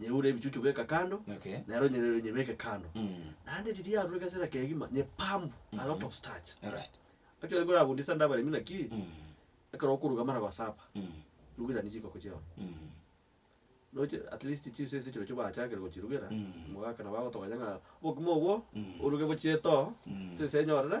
Nyeure ebichuchu beka kando, Okay. nero nyere- nyebeke kando. Mm. Naende riria yarure egesera kegima, nyepambu a lot of starch. Alright. Actually ekero orabundia esande abaremi naki, Mm. ekero okoruga amara gosaba, Mm. rugerania chikoko chiao. Mm. Roche at least chinsa ase echirochio bachakire gochirugera, Mm. omogaka nabo agotoganya ng'a obokima obwo, oruge bochie etoo, Mm. ase ense enyorire,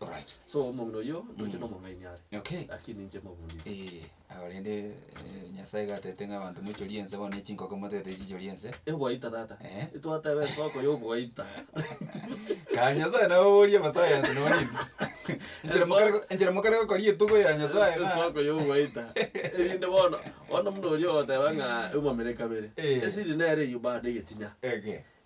Alright. So omong'ina oyio ndoche nomong'aini are, Okay. lakini ninche mobundi. Ee, ago rende eh, Nyasaye iga atebete ng'a abanto moichorie ense bono echinkoko moteete chichorie ense. Egwaita tata. Eh. Twateba esoko yogwaita. Kare Nyasaye nabo oboria omosayansi noo nini? Enchera mokare go- enchera mokare gokoria etugo ya Nyasaye na- Esoko yogwaita. Erinde bono, bono buna oria ogoteba ng'a eumamere kabere. Eh. Esiri nere eyio bado egetinya. Ege.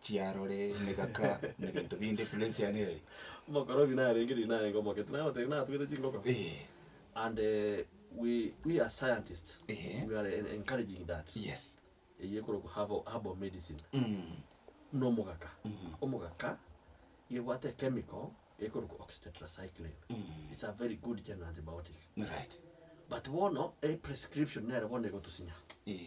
chiarore, emegaka, na ebinto binde, place yane ere. Omokorobi narenge riria narenge omogeti nagotebia natugete chingoko Eeh. and eh, we we as scientists Ehe. we are en- encouraging that Yes. eye ekorokwa herbal herbal medicine Mm. buna omogaka omogaka ebwate chemical ekorokwa oxytetracycline it's a very good general antibiotic Right. but bono eprescription nere bono egotusinya Eeh.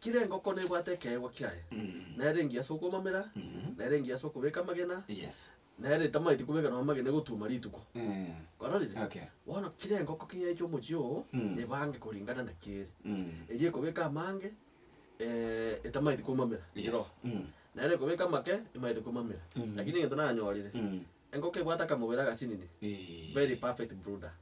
Kera engoko nebwate ekeegwa kiaye, nere engiya ase okomamera, nere engiya ase okobeka amagena, Yes. nere etamaeti kobeka nonya amagena egotuoma rituko. Eh. Ororire? Okay. Bono kera engoko keyaeche omochie oo, Mm. ebange koringana naki ere. Mm. Eria ekobeka amange, eh, etamaeti komamera Yes. chiroba. Mm. Nere ekobeka amake, emaete komamera. Mhm. Lakini egento nanyorire, Mm. engoko ebwate akamobere agasinini, Eeh. very perfect brooder.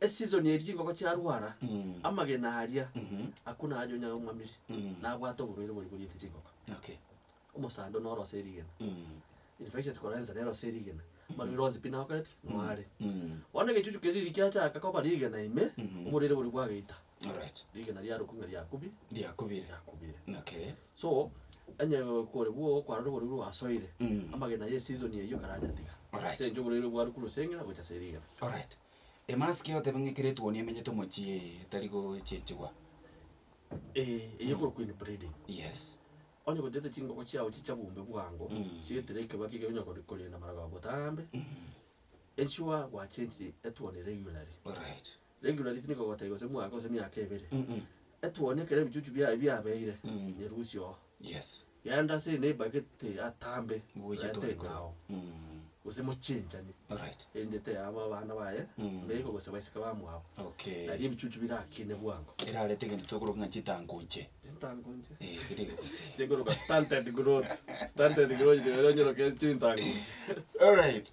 Esizoni eye chingoko chiarwara, amagena aria akwo naye anyonyage omwamire, nabwate oborwaire boria boriete chingoko. Okay. Omosando noro ase erigena, infections korora ensana ero ase erigena, amarwaire onsi pi nakoreti noare. Bono egechuchu keria riria kiachaka koba rigena ime, oborwaire boria bwagaita, Alright. rigena riarokwa ng'a riakubire, Riakubire. riakubire. Okay. So, onye kore bwo kwarora oborwaire bwasoire, amagena ya esizoni eyio karanyatiga, Alright. ase eng'encho oborwaire bwarokwa rusenge gocha ase rigena. Alright. Demaski egoteba ng'a ekero etuoni emenyete omochie ee etari gochichigwa. Ee, eye ekoro Queen Pleading. Yes. Onye gochete chingogo chiao chicha bombe bwango, chiaetera ekerogo ekio ekegonya kori- korenda amarago ao botambe, ensure gwachenchiri etuoni regularly. Alright. Regularly tindi kogotebia gose mwaka gose miaka ebere. Etuoni ekero ebichuchu biaye biabeire, nyerusia oo. Yes. Yaani ase ende ebagete atambe Ngoeche tore nteko korwa. ao, gose mochenchani, Alright. erinde teyabwo abana baye, mbeeka gose baiseke bamwabo, Okay. naria ebichuchu birakine bwango. Erarete egento tokoroka ng'a chitango nche. Chintango nche. Eh, kere egose. Chikoroka stunted growth, stunted growth, rirorio onyeroke chintango nche. Alright.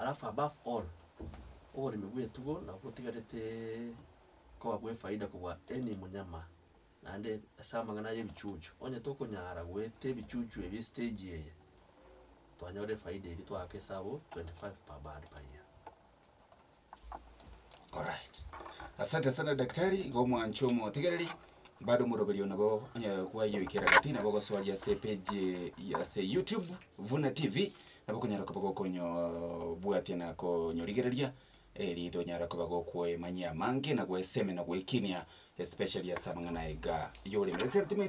Alafu above all, oboremi bw'etugo nabo botigareteeee koba bw'efaida kobua any mnyama, naende ase amang'ana aya ebichuchu, onye tokonyara goeta ebichuchu ebi estage eye, twanyora efaida eria twaaka esabu twenty five per bird per year. Alright. Asante sana daktari, iga omwancho omotegereri, bado omoroberi oyo nabo onye kwayoikera gati nabo ogosoria ase epage ya ase YouTube, Vuna TV, nabo okonyara koba gokonyooobwatia na konyorigereria, erinde onyare koba gokoemanyia amange na goeseme na goekinia especially ase amang'ana aiga yoreme. Daktari timanyeti.